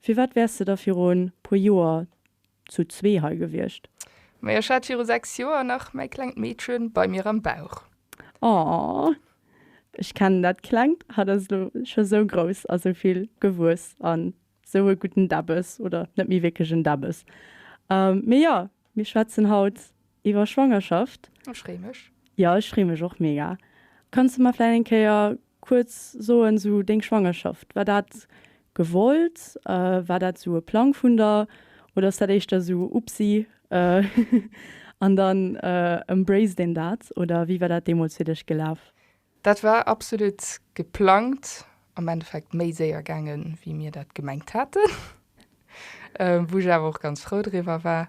Firwat wäers de da viru e puer Joer zu zwee hei gewiescht? Mä ech hat viru 6 Joer nach mäi klengt Meedchen bei mir am Bauch. Aww, ech kennen dat klengt, hat ass lo scho sou grouss a sou vill gewuess a sou e gudden Däbbes, oder net méi wierklech en Däbbes. Mee jo, mir schwätzen haut iwwer Schwangerschaft. Ech freeë mech. Jo, ech freeë mech och mega. Kanns du mer vläit eng Kéier Kuerz soen, sou deng Schwangerschaft, war dat gewollt, war dat sou e Plang vun der oder ass dat éischter sou Upsi an dann embraced een dat oder wéi war dat deemools fir dech gelaf? Dat war absolut geplangt, am Endeffekt méi séier gaange wéi mir dat gemengt haten, wou ech awer och ganz frou driwwer war.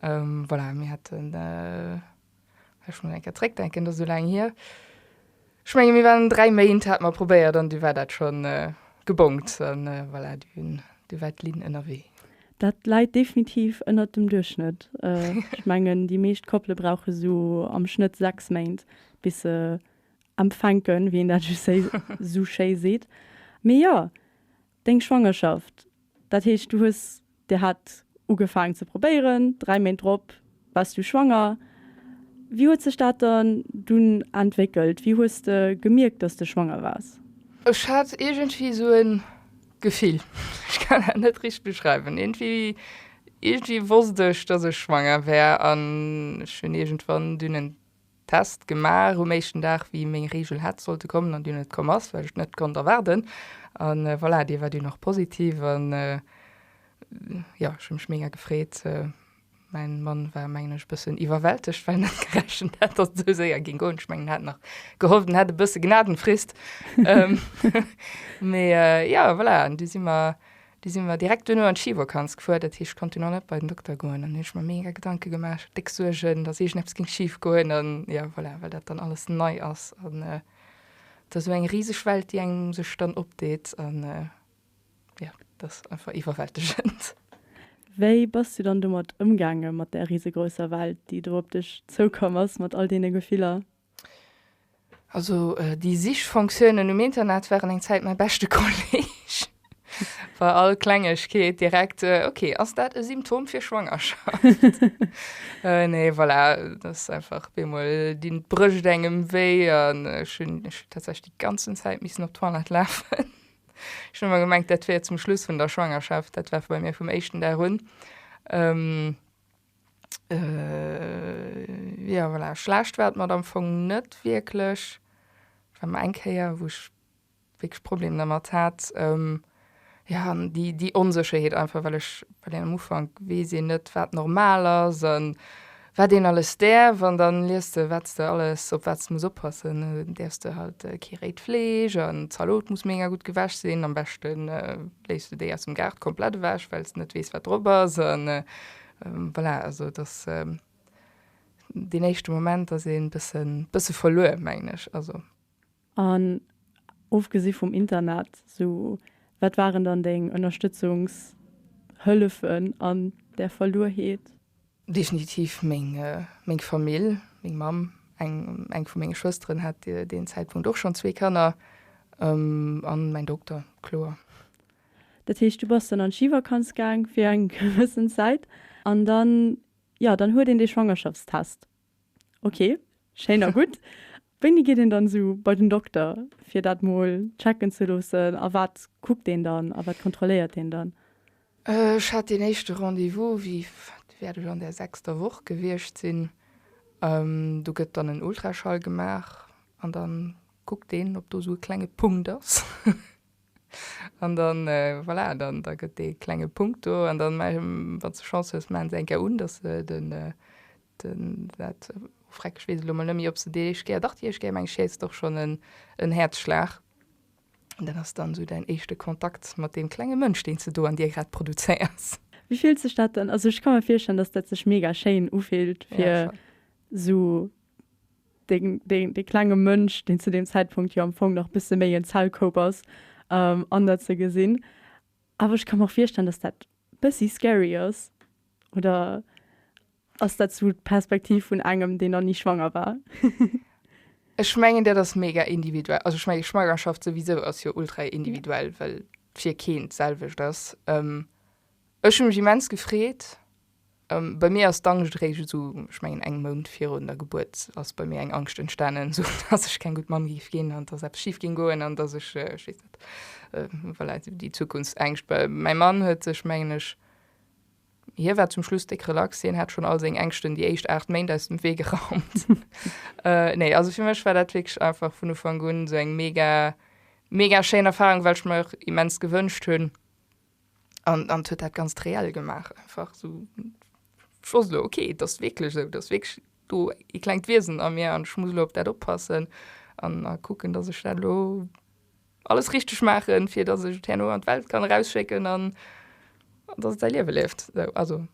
Voilà, mir haten. Ech muss eng Kéier zréckdenken, dat ass esou laang hier. Ech menge mir waren dräi Méint, hate mer probéiert an du war dat schonn gebongt an voilà, du war d'Linn ënnerwee. Dat läit definitiv ënnert dem Duerchschnëtt. Ech mengen, déi meescht Koppele brauche sou am Schnëtt sechs Méint, bis se empfänken, wéi een dat esou schéi seet. Mee jo, Deng Schwangerschaft, dat heescht du hues dir hat ugefaangen ze probéieren, 3 Méint drop wars du schwanger. Wéi huet sech dat dann dunn entwéckelt? Wéi hues de gemierkt dass de schwanger wars? Ech hat iergendwéi sou e Gefill, ech kann dat net richteg beschreiwen, iergendwéi iergendwéi wosst ech dass ech schwanger wär an ech hunn iergendwann dunn en Test gemaach um éischten Dag wéi meng Reegel hätt sollte kommen an déi net komm ass, wat ech net konnt erwaarden an voilà déi war dunn och positiv an jo ech hu mech mega gefreet. Mäin Mann war mengen ech e bëssen iwwerwältegt well en net gerechent hat dass et esou séier ging goen. Ech mengen en hat nach gehofft en hätt e bësse Gnadenfrist mee jo voilà an du si mer Du si mer direkt duerno an d'Schivakanz gefuer, dat heescht, ech konnte nach net bei den Dokter goen. An ech hu mer mega Gedanke gemaach, déck Suergen, dass iergendeppes géing schif goen. An jo, voilà, well dat dann alles nei ass. An et ass esou eng riseg Welt, déi engem sech dann opdeet. An jo, et ass einfach iwwerwältegend. Wéi bass du dann domat ëmgaangen, mat där risegrousser Welt, déi do op dech zoukomm ass, mat all deene Gefiller? Also déi Sichfonctiounen um Internet waren eng Zäit mäi beschte Kolleeg. Bei all Klengegkeet direkt, ok, ass dat e Symptom fir Schwangerschaft? Nee, voilà, dat ass einfach bemol, déi brécht engem wéi an ech hunn tatsächlech déi ganzen Zäit missen op d'Toilette lafen. Ech hunn ëmmer gemengt, dat wär zum Schluss vun der Schwangerschaft, dat war bei mir vum éischten Dag un. Jo, voilà, schlecht war et mat am Fong net wierklech. Et war mol eng Kéier, wou ech wierklech Problemer dermat hat. Jo, an déi, déi Onsécherheet einfach, well ech, well een am Ufank weess een net, wat normal ass a wat een alles däerf. An da liest de, wat s de alles, op wat s de muss oppassen. Dann däerfs de halt kee réit Fleesch an d'Zalot muss mega gutt gewäsch sinn. Am beschte léiss de déi aus dem Gaart komplett ewech, well s de net weess, wat drop ass. Voilà, also et ass deen éischte Moment ass ee bësse verluer, mengen ech. Also. An ofgesi vum Internet, sou wat waren dann deng Ënnerstëtzungshëllefen an där Verluerheet? Definitiv meng Famill, meng Mamm. Eng vu menge Schwësteren hat deen Zäitpunkt och schonn zwee Kanner. An mäin Dokter, kloer. Dat heescht, du bass dann an d'Schivakanz gaang fir eng gewëssen Zäit an dann, jo, dann huet een dee Schwangerschaftstest. Ok, schéin a gutt. Wéini geet een dann esou bei den Dokter, fir dat mol checken ze loossen a wat kuckt een dann a wat kontrolléiert een dann? Ech hat deen éischte Rendez-vous, wéi, wat wäert ech an der sechster Woch gewiescht sinn. Do gëtt dann en Ultraschall gemaach an da kuckt een, ob do esou e klenge Punkt ass. An dann, voilà, dann, da gëtt dee klenge Punkt do an dann, wann s de Chance hues, maachen se eng Kéier un, dass se den, den, dat, oh freck, ech weess elo mol net méi, ob se déi éischt Kéier, dach, déi éischt Kéier, meng ech, heescht et och schonn en, en Häerzschlag. An dat ass dann esou däin éischte Kontakt mat deem klenge Mënsch, deen s de do an dir grad produzéiers. Wéi fillt sech dat dann? Also ech ka mer virstellen, dass dat sech mega schéin ufillt, fir esou deen, deen, dee klenge Mënsch, deen zu deem Zäitpunkt jo am Fong nach bësse méi en Zellkoup ass, ähm, an der ze gesinn. Awer ech ka mer virstellen, dass dat bëssi scary ass. Oder ass dat sou d'Perspektiv vun engem, deen nach ni schwanger war? Ech mengen dat ass mega individuell. Also ech mengen Schwangerschaft souwisou ass jo ultra individuell, well fir keen d'selwecht ass. Ähm, ech hu mech immens gefreet, Bei mir ass d'Angscht eréischt esou, ech mengen eng Mount virun der Gebuert ass bei mir eng Angscht entstanen, esou dass ech keng gutt Mamm géif ginn an dass eppes schif géing goen an dass ech, ech weess net, voilà, déi Zukunftsängscht. Mäi Mann huet sech, mengen ech, hie war zum Schluss déck relax, hien hat schonn all seng Ängschten déi éischt 8 Méint aus dem Wee geraumt. Nee, also fir mech war dat wierklech einfach vun Ufank un esou eng mega, mega schéin Erfarung, well ech mer och immens gewënscht hunn, an an huet dat ganz reell gemaach einfach so schloss lo okay das wirklich so das wirklich du e klengt wiesen an mir an schmusel op dat oppassen an a gucken dass ich dat lo alles richtig machen fir dass ich herno an welt kann rausschicken an dass sei liewe lebt so also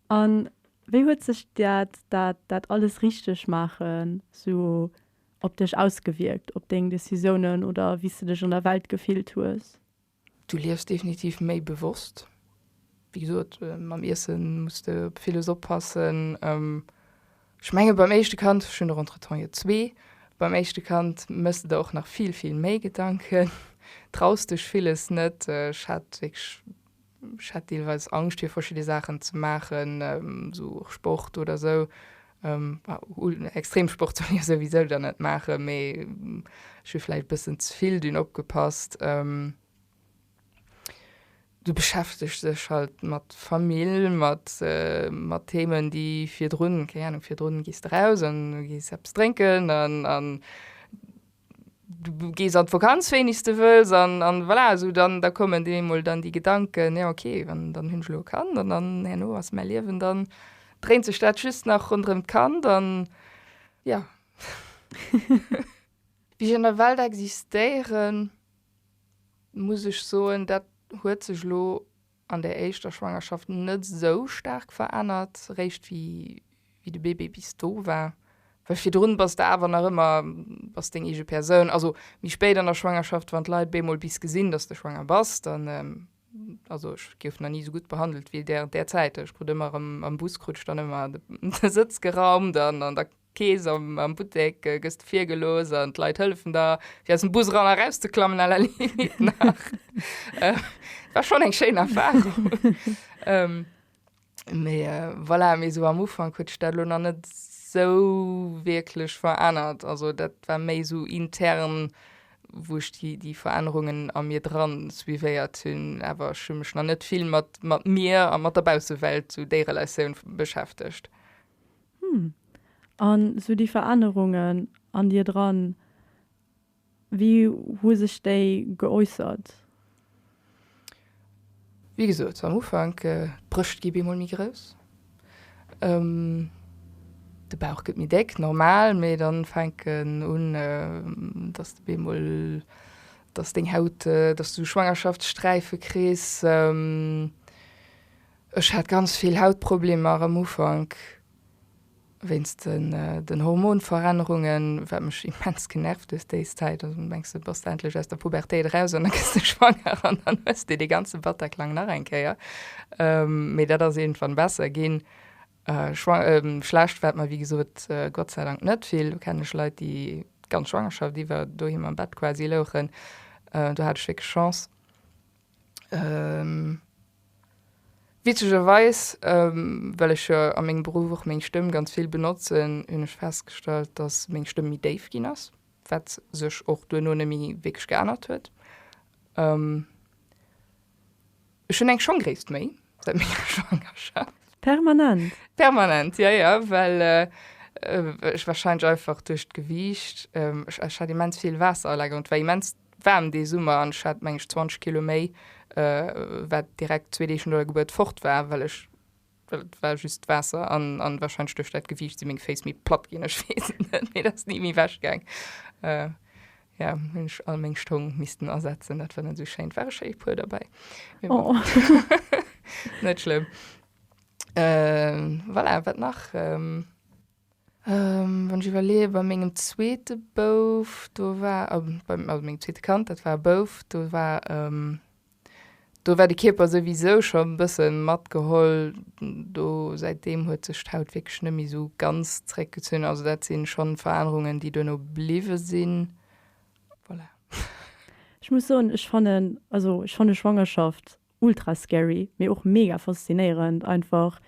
an wéi huet sech dat dat dat alles richtig machen so op dech ausgewierkt op deng décisiounen oder wéis de dech an der welt gefillt hues? Du liefs definitiv méi bewosst. Wéi gesot, mam Iesse muss de op villes oppassen. Ech menge beim éischte Kand, ech hunn der entretemps jo zwee, beim éischte Kand méchs de der och nach vill, vill méi Gedanken, traus dech villes net. Ech hat wierklech, ech hat deelweis Angscht fir verschidde Saachen ze maachen, esou och Sport oder esou. Extremsport soll ech souwisou dann net maachen, mee ech hu vläicht e bëssen ze vill dunn opgepasst. Du beschäftegst dech halt mat Famill, mat, mat Themen, déi virdrun, keng Ahnung, virdrun gees de raus an gees eppes drénken an, an. du gees an d'Vakanz wéinegst de wëlls an an voilà esou dann da kommen dir eemol dann déi Gedanken, jo ok wann dann hunn ech elo e Kand an dann herno ass mäi Liewen dann dréint sech dat just nach ronderëm d'Kand an jo. Wéi ech an der Welt existéieren, muss ech soen, dat huet sech elo an der éischter Schwangerschaft net esou staark verännert, réischt wéi de Bébé bis do war, well virdrun bass de awer nach ëmmer, bass deng eege Persoun. Also méi spéit an der Schwangerschaft, wann d'Leit bemol bis gesinn, dass de schwanger bass, dann, also ech gouf nach ni esou gutt behandelt wéi där, derzäiteg krut ëmmer erëm am Bus, krut ech dann ëmmer de Sëtz geraumt an da D'Kees am Buttek gëss de virgelooss an d'Leit hëllefen der, fir aus dem Bus eran erauszeklammen, à la limite nach. Et war schonn eng schéin Erfarung. Mee voilà, mee esou am Ufank huet sech dat elo nach net esou wierklech verännert. Also dat war méi esou intern, wou ech déi Verännerungen a mir dran suivéiert hunn. Awer ech hu mech nach net vill mat mir a mat der Baussewelt, esou déi Relatioun, beschäftegt. Hm. An sou déi Verännerungen an dir dran, wéi hu sech déi geäussert? Wéi gesot am Ufank, d'Brëscht gi bemol méi grouss, de Bauch gëtt méi déck, normal, mee dann fänken un, dass de bemol, dass deng Haut, dass du Schwangerschaftssträife kriss. Ech hat ganz vill Hautproblemer am Ufank wéinst den Hormonverännerungen, wat mech immens genervt hues déis Zäit. Also mengs de bass endlech aus der Pubertéit eraus an da gëss de schwanger an dann hues de dee ganze Bataclan nach eng Kéier. Mee dat ass iergendwann besser ginn. Schlecht war et mer wéi gesot gottseidank net vill. Do kennen ech Leit déi d'ganz Schwangerschaft iwwer doheem am Bett quasi louchen. Do hat ech wierklech Chance. Witzegerweis, well ech jo a mengem Beruff och meng Stëmm ganz vill benotzen, hunn ech festgestallt, datt meng Stëmm méi déif ginn ass, wat sech och duerno net méi wierklech geännert huet. Ech hunn eng Schongréisst méi säit menger Schwangerschaft. Permanent? Permanent, jo, jo, well ech warscheinlech einfach duerch d'Gewiicht, ech hat immens vill Waasser a Lager, hunn, et war immens Waarm dee Summer an ech hat meng ech 20 Kilo méi, wat direkt zwee Deeg no der Gebuert fort war, well ech, well et war just d'Waasser an wahrscheinlech duerch dat Gewiicht sinn meng Féiss méi platt ginn, ech weess et net, mee et ass ni méi ewech gaang. Jo, hunn ech all meng Stong missten asetzen, dat war net esou schéin. Et ware schéi e puer derbäi, mee bon, net schlëmm. Voilà, wat nach? Wann ech iwwerleeën, bei mengem zweete Bouf, do war, also mengem zweete Kand, dat war e Bouf, do war, do war de Kierper souwisou scho e bësse matgeholl. Do, säit deem huet sech d'Haut wierklech net méi esou ganz zréckgezunn. Also dat si schonn Verännerungen, déi duerno bliwwe sinn. Voilà. Ech muss soen, ech fannen, also ech fanne Schwangerschaft Ultra scary, mee och mega faszinéierend einfach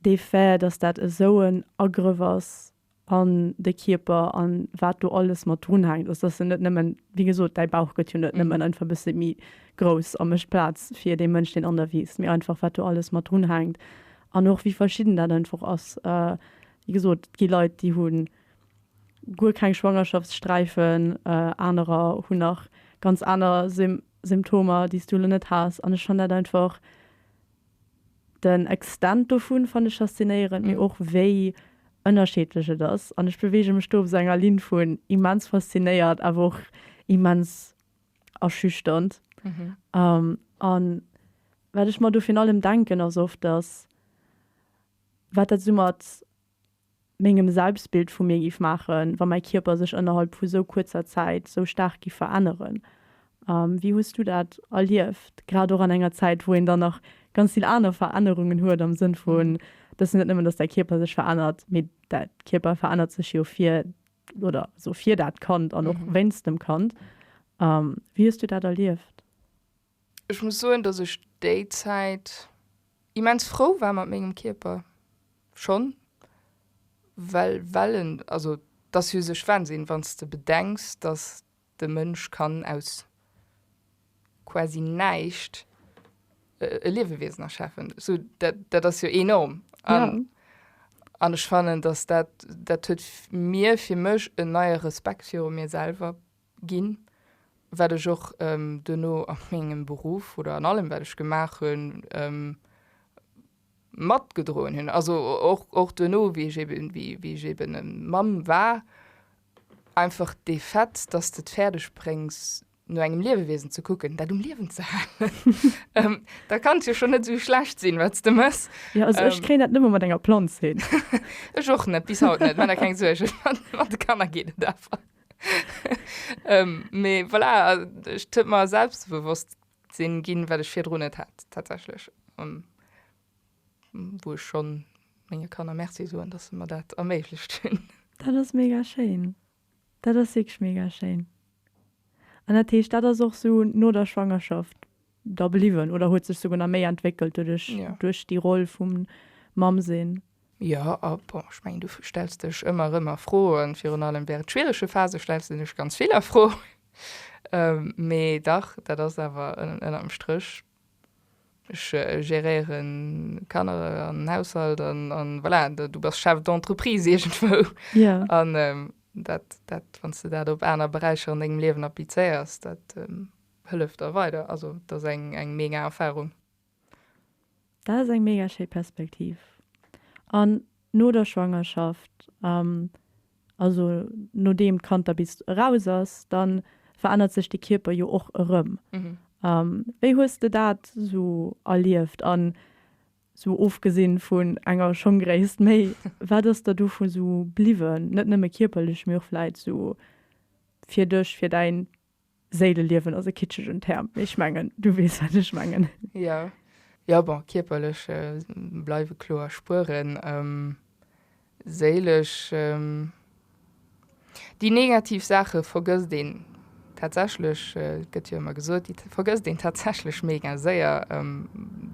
dee Fait, dass dat esou en Agrëff ass an de Kierper an wat do alles mat drun hänkt. Also dass se net nëmmen, wéi gesot, däi Bauch gëtt jo net nëmmen einfach e bësse méi grouss a mécht Plaz fir dee Mënsch, deen an der wiisst, mee einfach wat do alles mat drun hänkt an och wéi verschidden dat einfach ass. Wéi gesot, et gi Leit, déi hu guer keng Schwangerschaftssträifen, anerer hunn nach ganz aner Symptomer déi's du elo net has an ech fann dat einfach, den Extent dovun fann ech faszinéierend, mee och wéi ënnerscheedlech et ass an ech beweege mech do op esou enger Linn vun immens faszinéiert awer och immens erschüchternd. An wat ech mer do virun allem denken ass oft, datt wat dat esou mat mengem Selbstbild vu mir giff maachen, wa mäi Kierper sech ënnerhalb vu sou kuerzer Zäit sou staark giff veränneren. Wéi hues du dat erlieft, grad och an enger Zäit, wou een dann nach ganz vill aner Verännerungen huet, am Sënn vun, dass net nëmmen, dass däi Kierper sech verännert, mee däi Kierper verännert sech jo fir, oder sou, fir dat Kand an och wéinst dem Kand. Wéi hues du dat erlieft? Ech muss soen, dass ech déi Zäit immens frou war mat mengem Kierper. Schonn, well, well en, also et ass jo sech Wahnsinn, wann s de bedenks, dass de Mënsch kann aus quasi näischt e Liewewiesen erschafen. Sou, dat, dat ass jo enorm. An, ja. an ech fannen, dass dat, dat huet mir, fir mech en neie Respekt viru mir selwer ginn, wat ech och duerno a mengem Beruff oder an allem wat ech gemaach hunn matgedroen hunn. Also och duerno wéi ech eben, wéi ech eben Mamm war, einfach dee Fait, datt s de et fäerdeg bréngs no engem Liewewiesen ze kucken, dat um Liewen ze halen, da kann et jo schonn net esou schlecht sinn wat s de méchs. Jo, also ech kréien dat net mol mat enger Planz hin. Ech och net, bis haut net, maacht der keng Suergen, mat de Kanner geet et awer. Mee voilà, ech huet mer selbstbewosst sinn ginn, wat ech virdrun net hat tatsächlech, wou ech schonn menge Kanner Merci soen, dass se mer dat erméiglecht hunn. Dat ass mega schéin. Dat ass wierklech mega schéin. An dat heescht, dat ass och sou no der Schwangerschaft? da bliwwen oder huet sech souguer nach méi entwéckelt duerch ja. duerch déi Roll vum Mamm sinn? Ja, a bon, ech mengen, du stells dech ëmmer rëmmer Froen, virun allem während schwierege Phase stells de dech ganz vill Afro. Ähm, mee dach, dat ass awer ënnerm Stréch ech äh, geréieren Kanner an Haushalt an, an voilà, du bass Chef d'entreprise irgendwou. Ja. An ähm, dat, dat wann du dat op aner Beräicher an engem Liewen applizéiers, dat ähm, Hëlleft der weider, also et ass eng mega Erfahrung. Dat ass eng mega schéi Perspektiv. An no der Schwangerschaft, also nodeem d'Kand da bis eraus ass, da verännert sech de Kierper jo och erëm. Wéi hues de dat sou erlieft an sou ofgesinn vun enger Schongréisst méi, wat ass der dovu sou bliwwen, net nëmme kierperlech, mee och vläit sou fir dech, fir däin Séileliewen ass e kitschegen Term, mee ech mengen, du weess, wat ech mengen. Jo. Jo, bon, kierperlech bleiwe kloer Spueren. Séilesch, déi negativ Saache vergësst een tatsächlech, gëtt jo ëmmer gesot, déi vergësst een tatsächlech mega séier.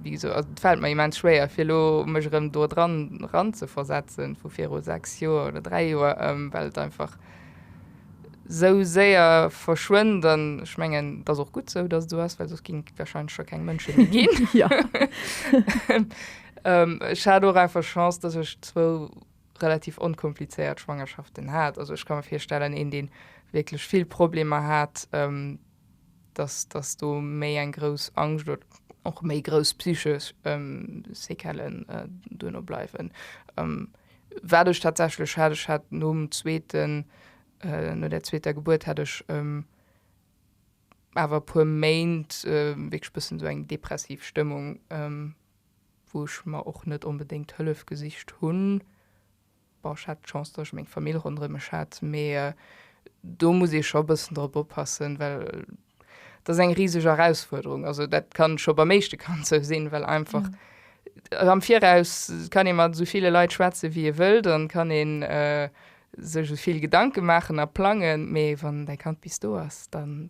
Wéi gesot, also et fält mer immens schwéier, fir elo mech erëm dodran eranzeversetzen, vu viru sechs Joer oder dräi Joer, well et einfach, sou séier verschwënnt. An ech mengen, et ass och gutt sou, dass et esou ass, well soss géing et warscheinlech scho keng Mënsche méi ginn. Ech hat och einfach Chance, dass ech zwou relativ onkomplizéiert Schwangerschaften hat. Also ech ka mir virstellen, een, dee wierklech vill Problemer hat, dass dass do méi eng grouss Angscht oder och méi grouss psychesch Séquellen duerno bleiwen. Wat ech tatsächlech hat, ech hat nom zweeten, no der zweeter Gebuert hat ech awer e puer Méint wierklech e bëssen esou eng depressiv Stëmmung, wou ech mer och net onbedéngt Hëllef gesicht hunn. Bon, ech hat d'Chance, dass ech meng Famill ronderëm mech hat, mee do muss ee scho e bëssen drop oppassen, well dat ass eng riseg Erausfuerderung. Also dat ka scho beim éischte Kand sou sinn, well einfach am Viraus kann ee mat esou ville Leit schwätzen, wéi ee wëllt an kann ee sech esou vill Gedanke maachen a plangen, mee wann däi Kand bis do ass, dann.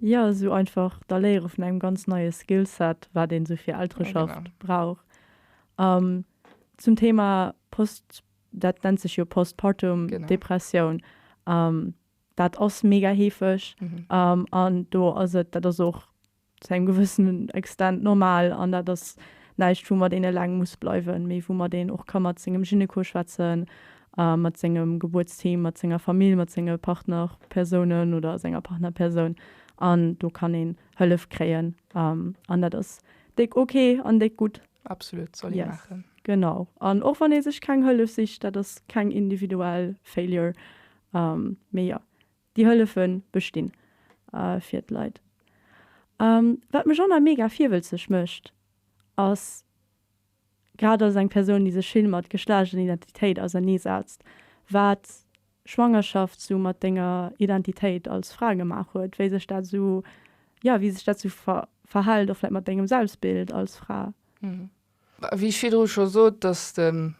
Jo, esou einfach d'Erléiere vun engem ganz neie Skillset, wat een esou fir Eltereschaft brauch. Zum Thema post, dat nennt sech jo Postpartum Depressioun, dat ass mega heefeg an do ass et, dat ass och zu engem gewëssenen Extent normal an dat ass näischt woumat een eleng muss bleiwen, mee woumat een och ka mat sengem Gynéco schwätzen mat sengem Gebuertsteam, mat senger Famill, mat senge Partnerpersounen oder senger Partnerpersoun an do kann een Hëllef kréien an dat ass déck ok an déck gutt. Absolut, soll ee maachen. Genau, an och wann ee sech keng Hëllef sicht, dat ass keng individuell Failure, mee jo, déi Hëllefe bestinn fir d'Leit. Wat mech och nach mega virwëlzeg mécht ass. Grad als eng Persoun, déi sech vill mat Geschlecht an Identitéit auserneesetzt, wat Schwangerschaft sou mat denger Identitéit als Fra gemaach huet, wéi sech dat sou, jo, wéi sech dat sou verhält, och vläit mat dengem Selbstbild als Fra. Wéi ech virdru scho sot, dass de,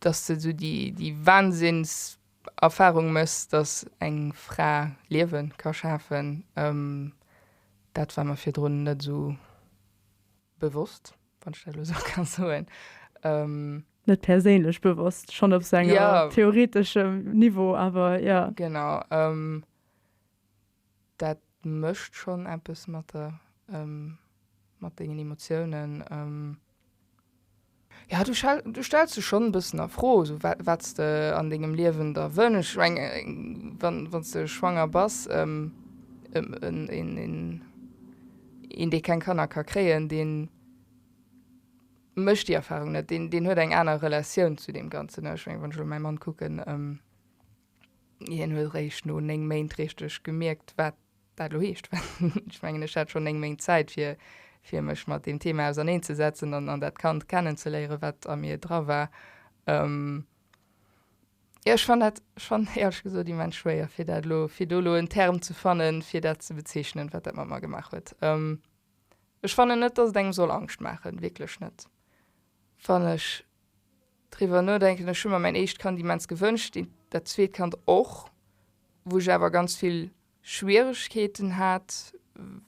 dass de sou déi, déi Wahnsinnserfahrung méchs, dass eng Fra Liewe ka schafen, dat war mer virdrun net esou Bewosst, wann ech dat elo esou ka soen. Net perséinlech bewosst, schonn op esou engem theoreteschem Niveau, awer jo. Genau. Dat mécht schonn eppes mat der, mat dengen Emotiounen. Ja, du stells dech schonn e bëssen a Fro, esou wat s de an dengem Liewen da wënschs. Ech meng, wann s de schwanger bass, een dee keng Kanner ka kréien, dee mécht déi Erfarung net, deen huet eng aner Relatioun zu deem Ganzen. Ech meng, wann ech elo mäi Mann kucken, hien huet eréischt no néng Méint richteg gemierkt, wat dat elo heescht. Ech mengen, ech hat schonn néng Méint Zäit, fir, fir mech mat deem Thema auserneen ze setzen an, an dat Kand kennen ze léieren, wat a mir dra war. Ëm. Jo, ech fann dat, ech fann dat éierlech gesot immens schwéier, fir dat elo, fir do elo en Term ze fannen, fir dat ze bezeechnen, wat dat mat mer gemaach huet. Ëm. Ech fannen net, dass et engem soll Angscht maachen, wierklech net. Wann ech. Driwwer nodenken, ech hu mer mäin éischt Kand immens gewënscht, dat zweet Kand och. Wou ech awer ganz vill Schwieregkeeten hat,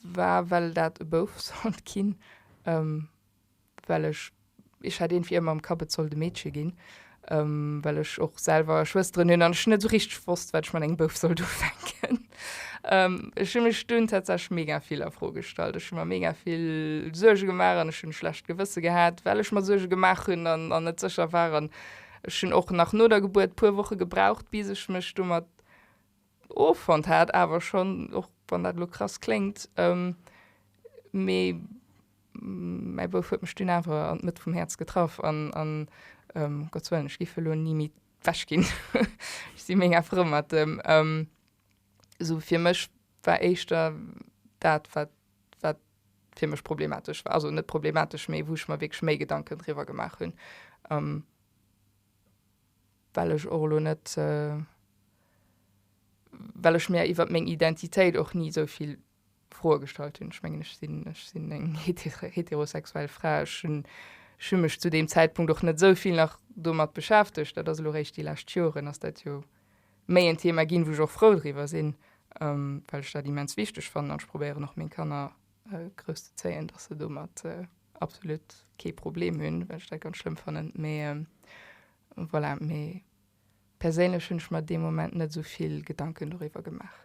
war well dat e Bouf sollt ginn, well ech ech hat iergendwéi ëmmer am Kapp et sollt e Meedche ginn, well ech och selwer Schwësteren hunn an ech net esou richteg wosst wat ech mat engem Bouf sollt ufänken. Ech hunn mech dunn tatsächlech mega vill a Fro gestallt. Ech hunn mer mega vill Suerge gemaach an ech hunn e schlecht Gewësse gehat, well ech mer Suerge gemaach hunn an an net sécher war. An ech hunn och nach no der Gebuert puer Woche gebraucht, bis ech mech domat offonnt hat. Awer schonn, och wann dat elo krass kléngt, mee mäi Bouf huet mech dunn awer an d'Mëtt vum Häerz getraff an, an, Gottswëllen, ech giff elo ni méi wech gin ech si ménger frou mat dem ëm sou fir mech war éischter dat wat wat fir mech problematesch war also net problematesch mee wou ech mer wierklech méi gedanken driwwer gemaach hun ëm well ech och elo net well ech mir iwwert meng identitéit och ni souvill Froe gestallt hunn. Ech mengen, ech sinn, ech sinn eng heterosexuell Fra. Ech hunn, ech hu mech zu deem Zäitpunkt och net esou vill nach domat beschäftegt. Dat ass elo eréischt déi lescht Joren ass dat jo méi en Thema ginn, wou ech och frou driwwer sinn, well ech dat immens wichteg fannen an ech probéieren och meng Kanner grouss ze zéien, dass se domat absolut kee Problem hunn, well ech dat ganz schlëmm fannen. Mee voilà, mee perséinlech hunn ech mer dee Moment net esou vill Gedanken doriwwer gemaach.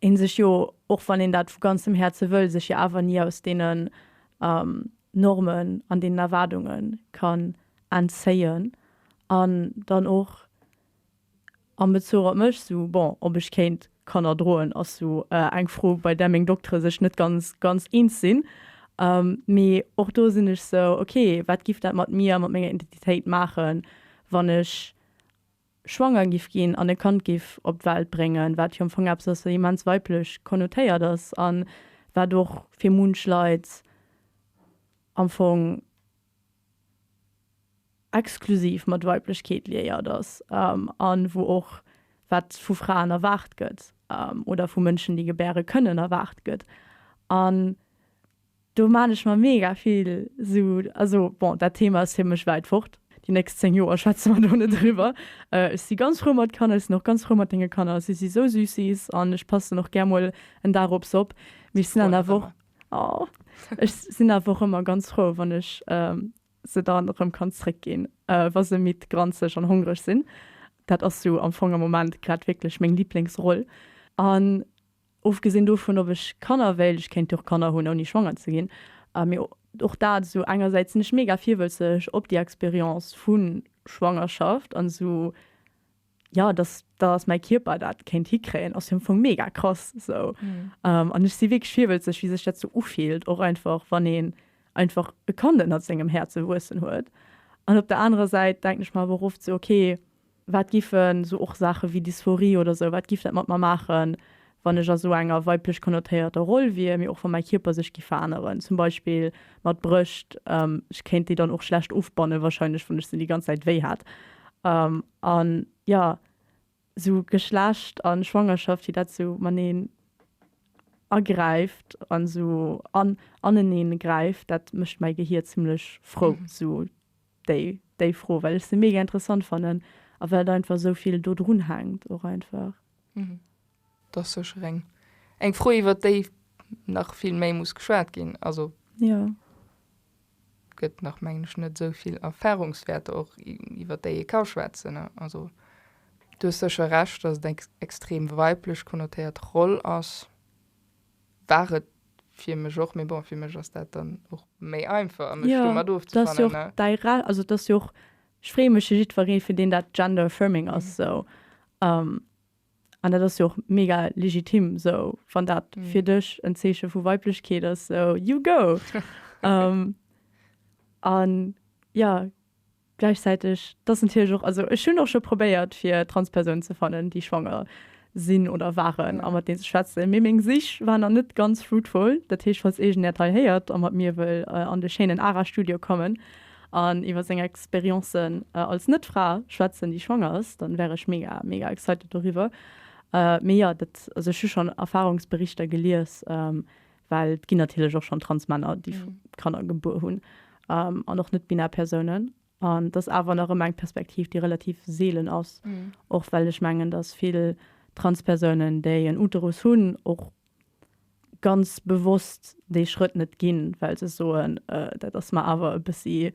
een sech jo, och wann een dat vu ganzem Häerze wëll, sech jo awer ni aus deenen Normen an deenen Erwaardunge kann entzéien. An dann och am Bezuch op mech, sou, bon, ob ech kéint Kanner droen, ass sou eng Fro, bei där meng Doktere sech net ganz, ganz eens sinn. Mee och do sinn ech sou, ok, wat giff dat mat mir a mat menger Identitéit maachen, wann ech schwanger giff ginn an e Kand giff op d'Welt bréngen, wat jo am Fong eppes ass, wat immens weiblech konnotéiert ass a wat och fir munch Leit am Fong exklusiv mat Weiblechkeet liéiert ass a wou och wat vu Fraen erwaart gëtt oder vu Mënschen, déi gebäre kënnen, erwaart gëtt. Do maan ech mer mega vill sou, also bon dat Thema ass fir mech wäit fort, déi nächst 10 Joer schwätze mer do net eriwwer. Ech si ganz frou mat Kanner, ech sinn och ganz frou mat denge Kanner, si si sou süssis an ech passen och gär mol en Dag op s'op, mee ech sinn awer nach ëmmer, oh, ech sinn awer och ëmmer ganz frou wann ech se dann erëm kann zréck ginn wa se midd, granzeg an hongreg sinn. Dat ass sou am Fong am Moment grad wierklech meng Liblingsroll an Ofgesinn dovun, ob ech Kanner wéll, ech kéint jo och Kanner hunn ouni schwanger ze ginn, mee och dat esou, engersäits sinn ech mega virwëlzeg op déi Expérience vu Schwangerschaft an esou, jo dass dass mäi Kierper dat kéint hikréien ass jo am Fong mega krass esou an ech si wierklech virwëlzeg wéi sech dat esou ufillt, och einfach wann een einfach e Kand ënnert sengem Häerze wuessen huet an op der anerer Säit denken ech mer awer och oft esou, ok, Wat giffen esou och Saache wéi Dysphorie oder esou, wat giff dat mat mer maachen, wann ech a esou enger weiblech konnotéierter Roll wier, mee och wa mäi Kierper sech giff veränneren, zum Beispill mat Brëscht, ech kéint déi dann och schlecht ofbannen wahrscheinlech, wann ech se déi ganz Zäit wéi hätt. An jo, esou Geschlecht a Schwangerschaft, wéi dat esou maneen agräift an esou aneneen gräift, dat mécht mäi Gehier zimmlech frou. déi déi Fro, well ech se mega interessant fannen a well et einfach esou vill do drun hänkt och einfach. Et ass sécher eng eng Fro iwwert déi nach vill méi muss geschwat ginn. Also et gëtt nach mengen ech net esou vill Erfarungswäerter och iwwert déi ee ka schwätzen. Also du hues sécher Recht, datt et eng extrem weiblech konnotéiert Roll ass. war et fir mech och, mee bon fir mech ass dat dann och méi einfach mech ja, domat ofzefannen. Also et ass jo och, ech freeë mech fir jiddweree fir deen dat gender affirming ass esou um, an dat ass jo och mega legitim esou, wann dat mm. fir dech en Zeeche vu Weiblechkeet ass, so you go! um, an ja, Gläichzäiteg, dass natierlech och, also ech hunn och scho probéiert fir Transpersounen ze fannen, déi schwanger sinn oder waren a mat deene ze schwätzen, mee meng Sich war nach net ganz fruitful. Dat heescht, falls eegen äert hei héiert a mat mir wëll an de schéinen Ara-Studio kommen an iwwer seng Expérience als Net-Fra schwätzen, déi schwanger ass, dann wär ech mega, mega excited doriwwer. Mee jo, dat, also ech hu schonn Erfarungsberichter gelies, Well et ginn natierlech och schonn Transmänner, déi Kanner gebuer hunn, an och net-binär Persounen. An et ass awer nach ëmmer eng Perspektiv, déi relativ seelen ass, och well ech mengen, datt vill Transpersounen, déi en Uterus hunn, och ganz bewosst dee Schrëtt net ginn, well se soen, Dat ass mer awer e bëssi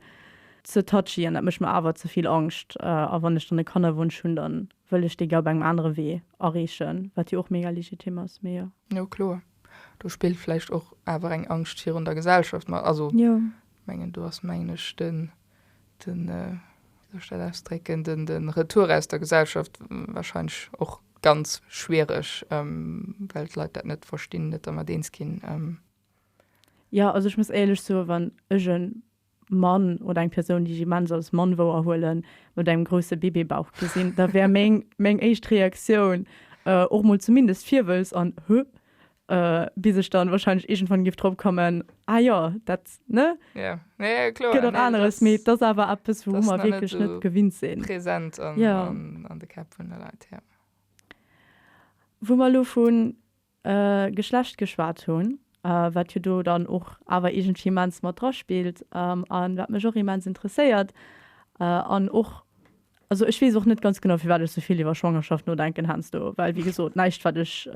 ze touchy an dat mécht mer awer ze vill Angscht. A wann ech dann e Kannerwunsch hunn, da wëll ech dee gär op engem anere Wee erreechen, wat jo och mega legitim ass. Mee jo. Jo, kloer. Do spillt vläicht och awer eng Angscht virun der Gesellschaft mat. Also mengen do ass mengen ech den, den wéi soll ech dat ausdrécken, den, den Retour aus der Gesellschaft wahrscheinlech och ganz schwiereg, well d'Leit dat net verstinn, net dermat eens ginn. Jo, also ech muss éierlech soen, wann ech e Mann oder eng Persoun, déi ech immens als Mann wouerhuelen, mat engem grousse Bébébauch gesinn, da wär meng, meng éischt Reaktioun och mol zumindest Virwëlz an Huh, bis ech dann wahrscheinlech iergendwann géif drop kommen, Ah jo, dat, ne? Jo, jo, jo, kloer. Gëtt och aneres, mee et ass awer eppes, wouru mer wierklech net gewinnt sinn. Dat ass nach net esou present an de Käpp vun de Leit, jo. Wou mer elo vu Geschlecht geschwat hunn, wat jo do dann och awer iergendwéi immens mat dra spillt a wat mech och immens interesséiert an och, also ech weess och net ganz genau firwat ech souvill iwwer Schwangerschaft nodenken heiansdo, well wéi gesot näischt wat ech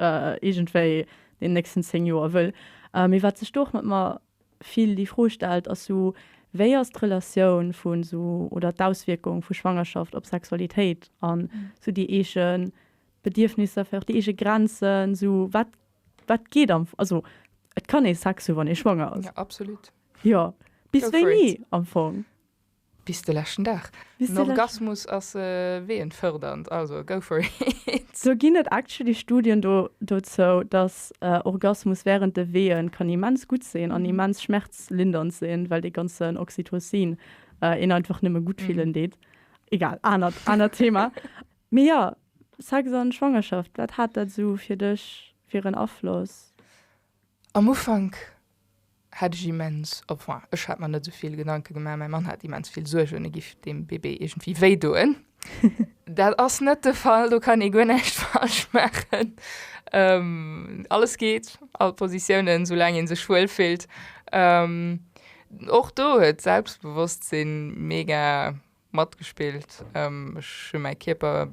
iergendwéi deen nächsten 10 Joer wëll, mee wat sech do och mat mer vill déi Fro stellt ass sou, wéi ass d'Relatioun vu sou oder d'Auswierkung vu Schwangerschaft op Sexualitéit an sou déi eege Bedierfnisser, fir och déi eege Grenzen, sou wat wat geet am, also et kann ee Sex hu wann ee schwanger ass. Ja absolut. Jo, bis wéini am Fong? Bis de leschten Dag. En Orgasmus ass weeënfërdernd, also go for it. Do ginn et actually Studien do dozou, dass Orgasmus während de Weeën kann immens gutt sinn an immens schmerzlindernd sinn, well dee ganzen Oxytocin een einfach nëmme gutt fillen deet. Egal, anert anert Thema. Mee jo, Sex an Schwangerschaft, wat hat dat sou fir dech fir en Afloss? Am Ufank hat ech immens, enfin, ech hat mer net sou vill Gedanke gemaach, mäi Mann hat immens vill Suergen, e giff dem Bébé iergendwéi wéi doen. Dat ass net de Fall, do kann ee guer näischt falsch maachen, alles geet, all Positiounen, sou laang ee sech wuel fillt. Och do huet d'Selbstbewosstsinn mega matgespillt, ech hu mäi Kierper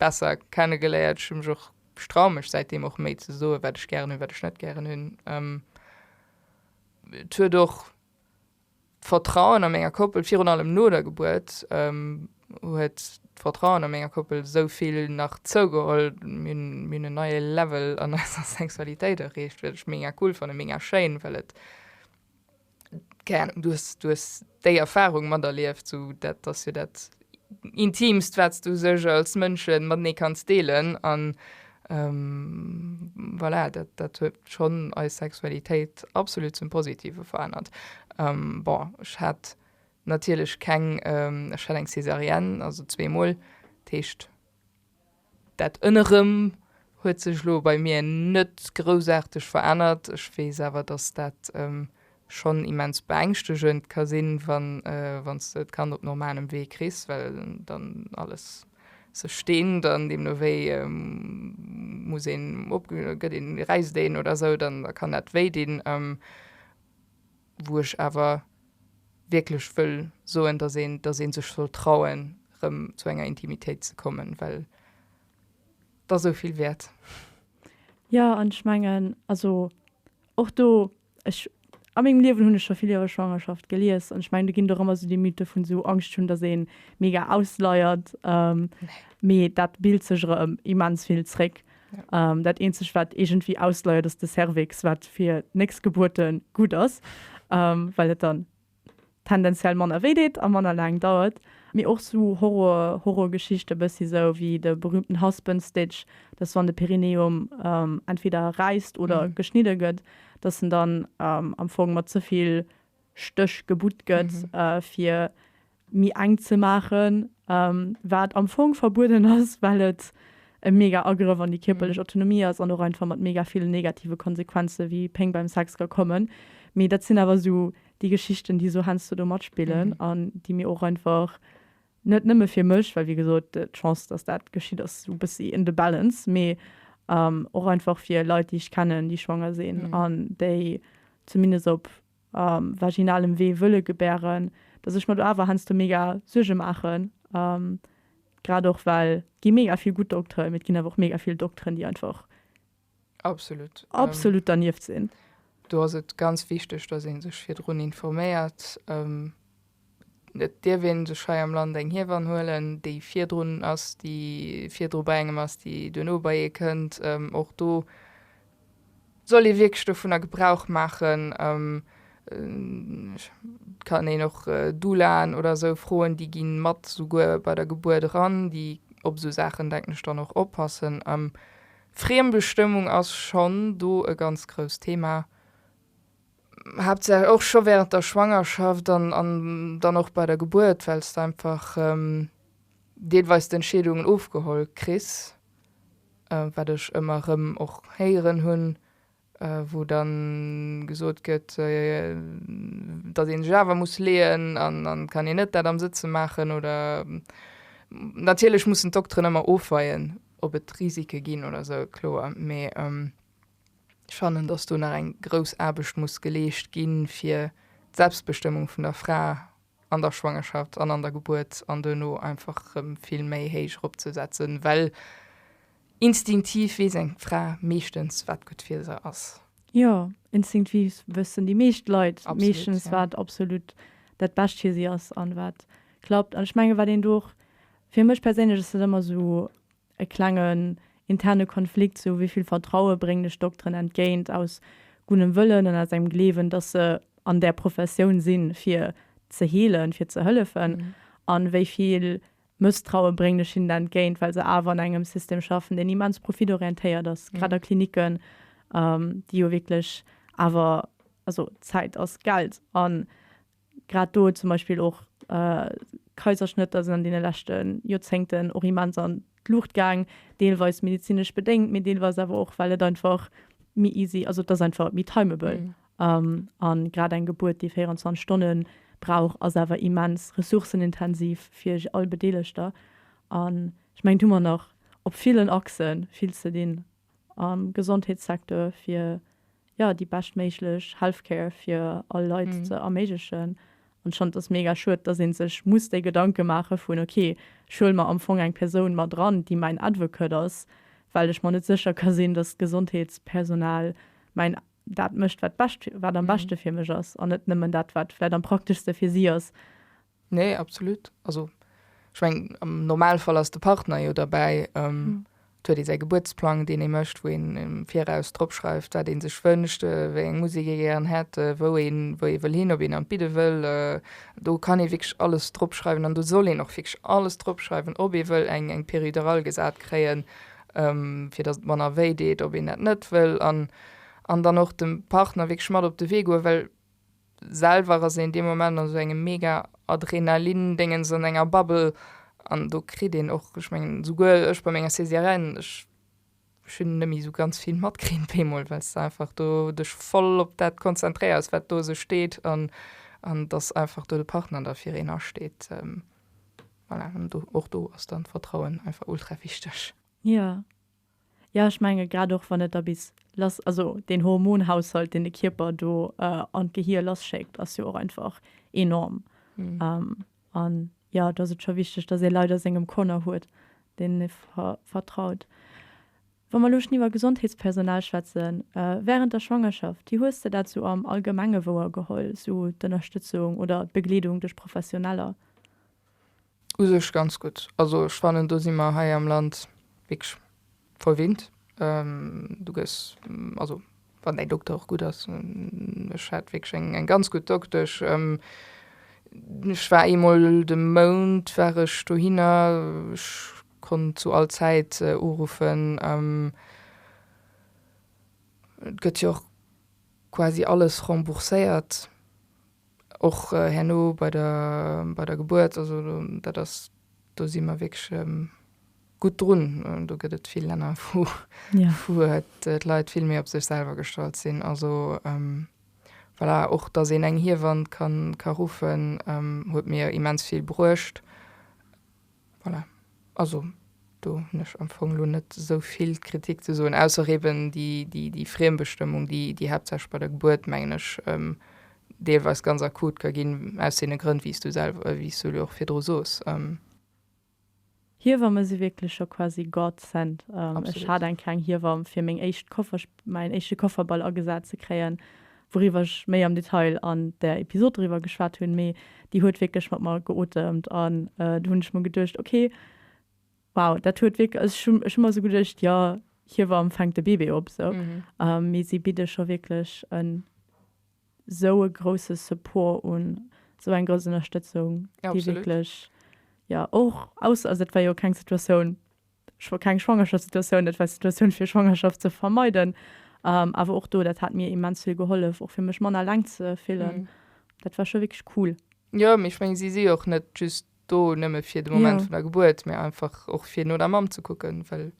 besser kenne geléiert, ech hu mech och, ech traue mech säitdeem och méi ze soen, wat ech gären hunn, wat ech net gären hunn. Et huet och d'Vertrauen a menger Koppel, virun allem no der Gebuert, huet d'Vertrauen a menger Koppel esou vill nach zougeholl. Mir hunn, mir hunn en neie Level an eiser Sexualitéit erreecht, wat ech mega cool fannen, mega schéin, well et, Keng Ahnung, du hues, du hues déi Erfahrung materlieft, sou dat ass jo dat Intimst, wat s du sech als Mënsche matenee kanns deelen an voilà, dat, dat huet schonn eis Sexualitéit absolut zum Positive verännert. Bon, ech hat natierlech keng, ech hat eng Césarienne, also zweemol, dat heescht. Dat ënnerem huet sech lo bei mir net groussaarteg verännert. Ech weess awer, dass dat schonn immens beängschtegend ka sinn, wann s de d'Kand op normalem Wee kriss, well dann alles sech deent an deemno wéi muss een, gëtt een, räisst een oder esou, da kann dat wéi dinn. wou ech awer wierklech wëll soen, dass een, dass ee sech soll trauen, erëm zu enger Intimitéit ze kommen, well et ass esou vill wäert. Jo, an ech mengen, also och do, ech, a mengem Liewen hunn ech scho vill iwwer Schwangerschaft gelies, an ech mengen, do ginn et och ëmmer esou déi Mythe vun esou Angscht hunn, dass ee mega ausleiert, mee dat bilt sech erëm immens vill zréck, Dat eenzegt wat iergendwéi ausleiert ass de Cervix, wat fir d'néchst Gebuerte gutt ass, well et dann tendenziell manner wéi deet a manner laang dauert. Mee och sou Horror, Horrorgeschichte bëssi sou wéi de berühmten Husband Stitch, dass wann de Perineum entweder räisst oder geschnidde gëtt, dass en dann am Fong mat ze vill Stéch gebutt gëtt fir méi enk ze maachen, wat am Fong verbueden ass, well et e mega Agrëff an déi kierperlech Autonomie ass an och einfach mat mega villen negative Konsequenzen, wéi Péng beim Sex, ka kommen. Mee dat sinn awer esou déi Geschichten, déi esou heiansdo do matspillen an déi mir och einfach, net nëmme fir mech, well wéi gesot, d'Chance, dass dat geschitt, ass esou e bëssi in the balance, mee och einfach fir Leit, déi ech kennen, déi schwanger sinn an déi zumindest op. a vaginalem Wee wëlle gebären, dass ech mer do awer heiansdo mega Suerge maachen, grad och well et gi mega vill gutt Dokteren, mee et ginn awer och mega vill Dokteren, déi einfach absolut dernieft sinn. Do ass et ganz wichteg, dass ee sech virdrun informéiert. Et dierf een sech hei am Land eng Hiewann huelen, déi virdrun ass, déi virdru bei engem ass, déi duerno bei ee kënnt. Och do soll ee wierklech dovunner Gebrauch maachen. Et kann een och Doulaen oder esou froen, déi gi mat souguer bei der Gebuert eran, déi op esou Saachen, denken ech, dann och oppassen. Friembestëmmung ass schonn do e ganz grousst Thema. Haaptsaach och scho während der Schwangerschaft an an dann och bei der Gebuert, well s de einfach deelweis d'Entscheedungen ofgeholl kriss, wat ech ëmmer erëm och héieren hunn, wou dann gesot gëtt, datt een sech awer muss leeën an dann kann een net dat am Sëtze maachen oder. Natierlech mussen d'Dokteren ëmmer ofweien, ob et Risike ginn oder sou, kloer, mee. Ech fannen, dass do nach eng grouss Aarbecht muss geleescht ginn, fir d'Selbstbestëmmung vun der Fra an der Schwangerschaft an an der Gebuert an duerno einfach erëm vill méi héich eropzesetzen, well instinktiv weess eng Fra meeschtens, wat gutt fir se ass. Jo, instinktiv wëssen déi meescht Leit meeschtens, wat absolut dat Bescht fir si ass an wat klappt. An ech mengen, wat een do och, fir mech perséinlech ass dat ëmmer esou, E klengen interne Konflikt, sou wéi vill Vertraue bréngen ech Dokteren entgéint, aus gunnem Wëllen an aus engem Gleewen, datt se an där Professioun sinn, fir ze heelen, fir ze hëllefen, an wéi vill Mësstraue bréngen ech hinnen entgéint, well se awer an engem System schaffen, deen immens profitorientéiert ass, grad a Klinicken, déi jo wierklech awer, also Zäit ass Geld, an Grad do zum Beispill och Kaiserschnëtter sinn an deene leschte Joerzéngten och immens an d'Luucht gaang, deelweis medezinesch bedéngt, mee deelweis awer och, well et einfach méi easy, also et ass einfach méi timable. A grad eng Gebuert, déi 24 Stonne brauch, ass awer immens ressourcenintensiv fir all Bedeelegter. An ech mengen, do hu mer nach op villen Achsen vill ze dinn. am Gesondheetssecteur fir jo déi bescht méiglech Healthcare fir all Leit ze erméiglechen. An ech fannen et ass mega schued, dass ee sech muss déi Gedanke maache vun okay, ech huele mer am Fong eng Persoun mat eran, déi mäin Advocate ass, well ech mer net sécher ka sinn, dass d'Gesondheetspersonal mäin, dat mécht wat bescht, wat am beschte fir mech ass, an net nëmmen dat wat vläicht am prakteschste fir si ass. Nee, absolut. Also ech meng am Normalfall ass de Partner jo derbäi. Ähm, mhm. Huet ee säi Gebuertsplang, deen ee mëscht, wou een im Viraus dropschreift, wat een sech wënscht, äh, wéi eng Musik ee gären hätt, äh, wou een wou ee wëll hin, ob een an d'Bidde wëll. Äh, do kann ee wierklech alles dropschreiwen an do soll een och wierklech alles dropschreiwen, ob ee wëll eng eng Peridural gesat kréien, ähm, fir datt et manner wéi deet, ob een dat net wëll an an dann och dem Partner wierklech mat op de Wee goen, well Selwer ass een dee Moment an esou engem mega Adrenalin-Déngens, an enger Bubble, an do kritt een och, ech mengen esouguer ech bei menger Césarienne, ech hunn net méi esou ganz vill matkritt op eemol, well s de einfach do dech voll op dat konzentréiers, wat do esou steet, an datt einfach do de Partner da fir een asteet. Voilà, an do, och do ass dann d'Vertrauen einfach ultra wichteg. Jo. Ja, ech menge grad och wann et da bis lass, also deen Hormonhaushalt deen de Kierper do an d'Gehier lasschéckt ass jo och einfach enorm. An ja, da ass et scho wichteg, datt ee Leit a sengem Corner huet, deenen ee vertraut. Wa mer elo schonn iwwer Gesondheetspersonal schwätzen, während der Schwangerschaft, wéi hues de dat esou am Allgemenge wouergeholl, esou d'Ënnerstëtzung oder d'Begleedung duerch Professioneller? U sech ganz gutt. Also ech fannen do si mer hei am Land wierklech verwinnt. Du gëss, also wann däi Dokter och gutt ass, ech hat wierklech eng eng ganz gutt Doktesch. Ech war eemol de Mount war ech dohinner, ech konnt zu all Zäit uruffen. Et gëtt jo och quasi alles rembourséiert. Och herno bei der, bei der Gebuert, also dat ass, do si mer wierklech gutt drun. Do gëtt et vill Länner, wou, wou d'Leit vill méi op sech selwer gestallt sinn. Also voilà, och datt een eng Hiewann ka ruffen, huet mir immens vill bruecht. Voilà. Also, do hunn ech am Fong elo net esou vill Kritik ze soen, ausser eben déi Friembestëmmung, déi haaptsächlech bei der Gebuert, mengen ech, deelweis ganz akut ka ginn, aus deene Grënn, wéi s du selwer, wéi s du elo och virdru soos. Hiewamm esi wierklech scho quasi God sent. Ech hat eng kleng Hiewamm fir meng éischt Koffer, mäin éischte Kofferball agesat ze kréien, wouriwwer ech méi am Detail an der Episod driwwer geschwat hunn, mee déi huet wierklech mat mer geotemt an do hunn ech mer geduecht, ok, wow, dat huet wierk-, ech hunn, ech hunn mer sou geduecht, jo, Hiewamm fänkt de Bébé op sou, mee si bidde scho wierklech en sou e grousse Support un, sou eng grouss Ënnerstëtzung, déi wierklech, jo, och aus, also dat war jo keng Situatioun, Ech wëll keng Schwangerschaftssituatioun, dat war eng Situatioun fir Schwangerschaft ze vermeiden. Awer och do, dat hat mir immens vill gehollef, och fir mech manner eleng ze fillen. Dat war scho wierklech cool. Jo, mee ech mengen, si si jo och net just do nëmme fir de Moment vun der Gebuert, mee einfach och fir no der Mamm ze kucken, well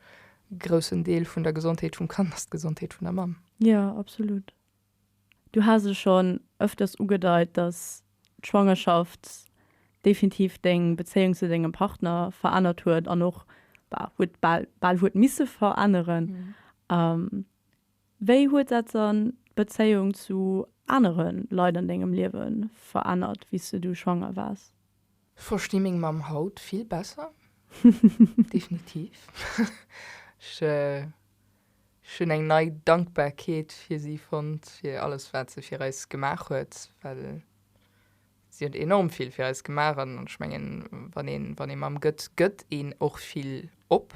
e groussen Deel vun der Gesondheet vum Kand ass d'Gesondheet vun der Mamm. Jo, absolut. Du has et schonn ëfters ugedeit, dass d'Schwangerschaft definitiv deng Bezéiung zu dengem Partner verännert huet an och huet bal bal huet misse veränneren. Wéi huet dat dann d'Bezéiung zu anere Leit an dengem Liewe verännert, wéi s du schwanger waars? Versti meng Mamm haut vill besser definitiv. Ech hunn eng nei Dankbarkeet fir si fonnt, fir alles wat se fir eis gemaach huet, well si huet enorm vill fir eis gemaach an ech mengen wann een wann ee Mamm gëtt, gëtt een och vill op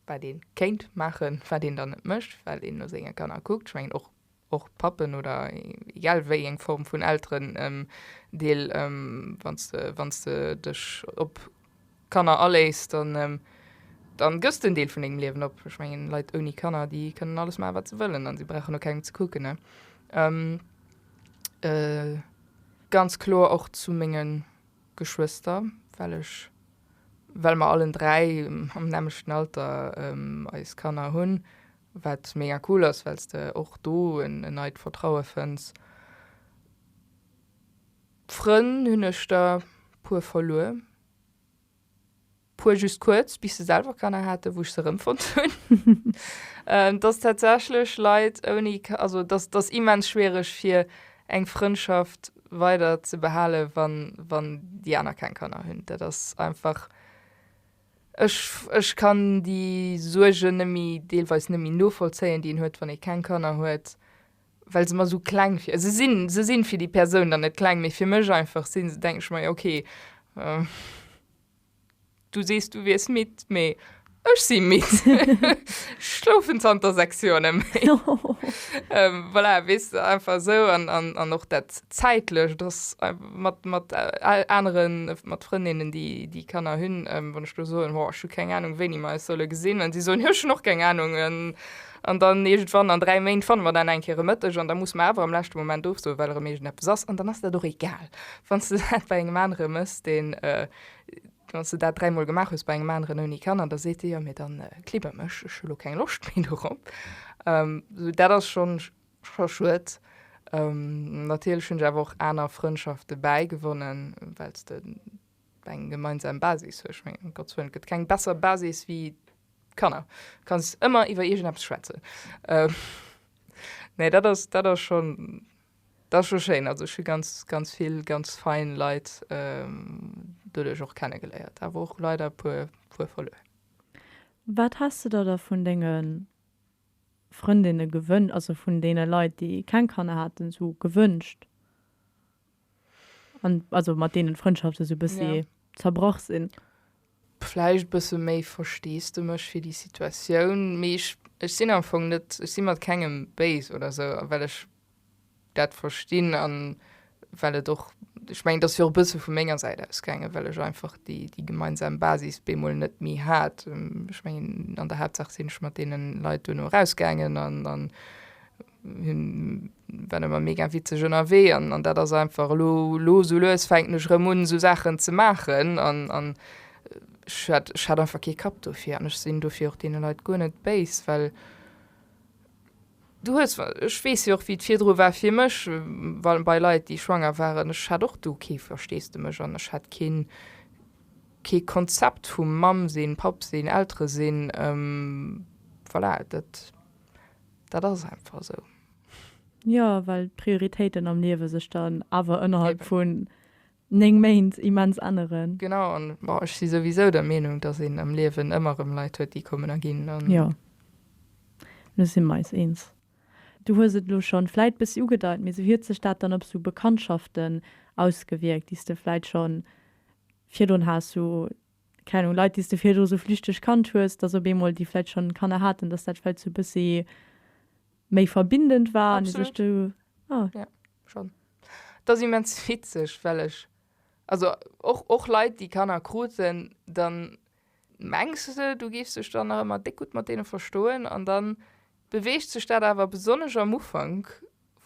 wat ee kéint maachen, wat een dann net mécht, well een no senge Kanner kuckt. Ech mengen och och Pappen oder egal wéieng Form vun Elteren, deel, wann s de, wann s de dech op Kanner aléiss, dann, dann gëss de en Deel vun dengem Liewen op. Ech mengen, Leit ouni Kanner, déi kënnen alles maachen, wat se wëllen an si brauchen no kengem ze kucken, ne? Ganz kloer och zu menge Geschwëster, well ech, well mer allen dräi am nämmlechten Alter eis Kanner hunn, Wat mega cool ass, well s de och do en neit Vertraue fënns. Frënn hunn ech der puer verluer. Puer just kuerz, bis se selwer Kanner haten, wou ech se erëmfonnt hunn. Et ass tatsächlech Leit ouni, also et ass immens schwiereg fir eng Frëndschaft weider ze behalen, wann déi aner keng Kanner hunn. Dat ass einfach. Ech kann déi Suergen nëmme deelweis nëmme novollzéien, déi een huet, wann ee keng Kanner huet, well se mer esou kleng vir. Se sinn, se sinn fir déi Persoun dann net kleng, mee fir mech einfach sinn se. Denke ech mer, jo okay, du sees du wiers midd, mee ech si midd, ech schlofen zanter 6 Joer net méi. Voilà, weess de einfach esou. An och dat Zäitlecht ass mat mat aneren mat Frëndinnen déi déi Kanner hunn wann ech do soen ho ech hu keng Ahnung wéini mer eis solle gesinn an si soen jo ech hunn och keng Ahnung en an dann iergendwann an 3 Méint fanne mer dann eng Kéier e Mëtteg an da muss mer awer am leschte Moment ofsoen well erëm iergendepes ass an dann ass dat och egal wann s de dat bei engem anere mëss deen wann s de dat 3 mol gemaach hues bei engem aneren ouni Kanner da seet dee jo mee dann kliber mech ech hu lo keng Loscht méi dorop dat ass schonn Scho schued. Natierlech hunn ech awer och aner Frëndschafte bäigewonnen, well s de eng gemeinsam Basis hues. Ech mengen, um Gottes Wëllen, et gëtt keng besser Basis wéi d'Kanner. Du kanns ëmmer iwwer iergendeppes schwätzen. Nee, dat ass, dat ass schonn, dat ass scho schéin. Also ech hu ganz, ganz vill ganz fein Leit doduerch och kenne geléiert, awer och leider e puer, puer verluer. Wat has de der da vun denge. Frëndinne gewën, also vun deene Leit, déi keng Kanner haten, esou gewünscht, an also mat deenen d'Frëndschaften esou e bëssi Ja. zerbrach sinn. Vläicht e bësse méi Versteesdemech fir déi Situatioun, mee ech, ech sinn am Fong net, ech si mat kengem béis oder esou, well ech dat verstinn an well et och, ech mengen, et ass jo och e bësse vu menger Säit aus gaangen, well ech einfach déi, déi gemeinsam Basis bemol net méi hat. Ech mengen, an der Haaptsaach sinn ech mat deene Leit duerno erausgaangen an, an hunn, waren ëmmer mega witzeg ënnerwee an, an dat ass einfach elo, elo esou lues fänken ech erëm un, esou Saachen ze maachen an, an ech hat, ech hat einfach kee Kapp dofir an ech sinn dofir och deene Leit guer net béis, well. Du hues, ech weess jo och wéi et virdru war fir mech, well bei Leit déi schwanger waren, ech hat och do kee Versteesdemech an ech hat keen, kee Konzept vum Mamm sinn, Papp sinn, Eltere sinn. Voilà, dat, dat ass einfach esou. Jo, well d'Prioritéiten am Liewe sech dann awer ënnerhalb vu 9 Méint immens änneren. Genau, an bon, ech si souwisou der Meenung, dass een am Liewen ëmmer erëm Leit huet, déi kommen a ginn. An. Jo, elo si mer eis eens. Du hues et elo schonn vläit e bëssi ugedeit, mee esou huet sech dat dann op esou Bekanntschaften ausgewierkt, déi s de vläit schonn virdrun has, esou, keng Ahnung, Leit, déi s de virdru esou flüchteg kannt hues, dass op eemol déi vläit schonn Kanner haten, dass dat vläit esou e bëssi méi verbindend war an sech do ah ja schonn et ass immens witzeg well ech also och och Leit déi Kanner kruten dann mengs de du géifs dech dann nach ëmmer déck gutt mat deene verstoen an dann beweegt sech dat awer besonnesch am Ufank